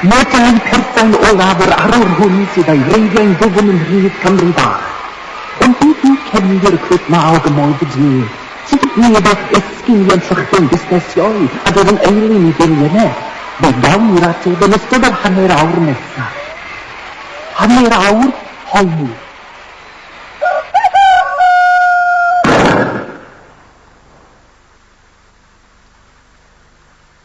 Mae dau person olaf yr arwr hwn sydd a'i wreiddiau'n ddwfn yn Rhydd Cymru Bach. Ond beth yw cefndir y clwb 'ma o gymoedd y du? Sut ydyn ni wrth esgyn i ymsychdo'n busnesion a dod yn eilun i beirianneg? Fe gawn ni'r ateb yn ystod yr hanner awr nesaf. Hanner awr poeni.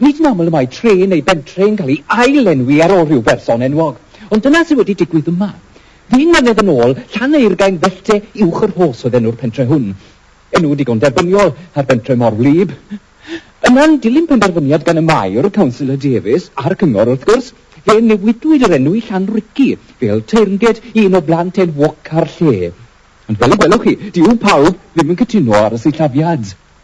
Nid yn aml y mae tre neu bentre yn cael ei ail-lenwi ar ôl rhyw berson enwog, ond dyna sydd wedi digwydd yma. Ddyn mlynedd yn ôl, Llaneurgain Fellde Uwch y Rhos oedd enw'r pentre hwn. Enw digon derbyniol ar bentre mor wlyb. Yna'n dilyn penderfyniad gan y Maer, Councillor Davies, a'r Cyngor wrth gwrs, fe newidwyd yr enw i Llanrhici, fel teyrnged i un o blant enwoca'r lle. Ond fel y gwelwch chi, dyw pawb ddim yn cytuno ar y sillafiad.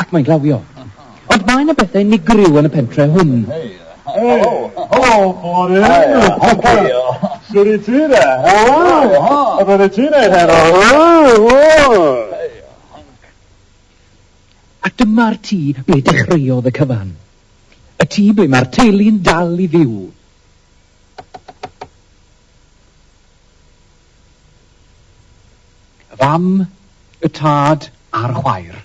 Ac mae'n glawio. Ond mae 'na bethau unigryw yn y pentre hwn. Helo! Helo! Bore! Shwt i ti de? Helo! Be oeddet ti'n neud heno? A dyma'r tŷ ble dechreuodd y cyfan. Y tŷ ble mae'r teulu'n dal i fyw. Y fam, y tad a'r chwaer.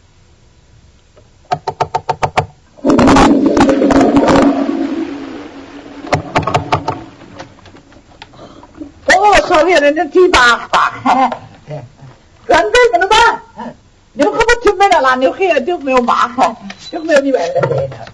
sori, yn y tŷ bach bach. Gwrandau, maen nhw ma. Newch am y tymen a lan, newch chi ydwch mewn bach. Newch mewn i weld y lle nawr.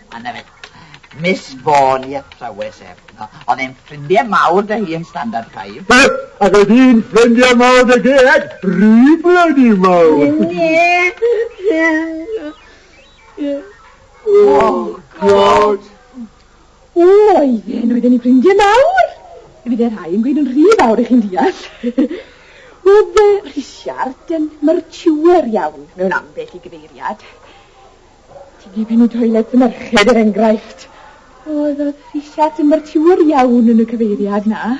A 'na fe. Miss Vaughan i athrawes ef. Oedd e'n ffrindie mawr 'da hi yn Standard Five. Be? Ac oedd hi'n ffrindie mawr 'da Geg? Rhy blydi mawr! Oh God! O, oedden, oedden ni'n ffrindie mawr! Fydde rhai yn gweud yn rhy fawr i chi'n deall. Oedd yy Rhisiart yn mertiwr iawn mewn ambell i gyfeiriad. Ti'n ei fynd i toilet y merched, er enghraifft. Oedd y rhisiad yn fertiwr iawn yn y cyfeiriad na.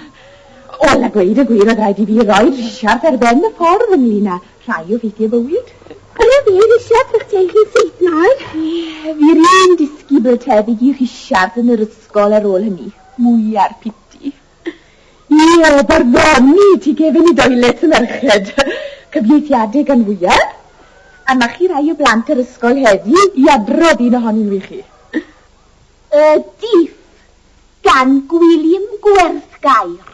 Wel, a gweud y gwir, oedd rhaid i fi roi rhisiad ar ben y ffordd ynglyn â rhai o ffeithiau bywyd. Bydde fi rhisiad ych teulu chi'n syth nawr? Ie, fi rîn disgybl tebyg i rhisiad yn yr ysgol ar ôl hynny. Mwy ar piti. Hi o barddoni tu gefn i doilet y merched cyfieithiedig gan fwyaf, a ma' chi rai o blant yr ysgol heddi i adrodd un ohonyn nhw i chi. Y Diff gan Gwilym Gwerthgair.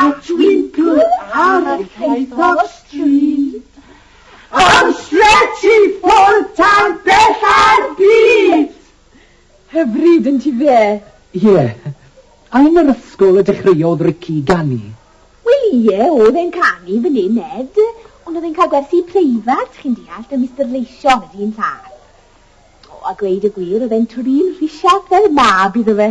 A dwi'n good ar y llwyth o stryd Am stretch i ffwrdd tan bell ar byd! Hyfryd yn ti fe? Ie. A yn yr ysgol y dechreuodd Ricky ganu? Wel ie, o'dd e'n canu fyn 'yn 'ed, ond o'dd e'n cael gwersi preifat, chi'n deall, 'da Mister Leision y dyn lladd. O, a gweud y gwir, o'dd e'n twri'n rhisiach fel mab iddo fe.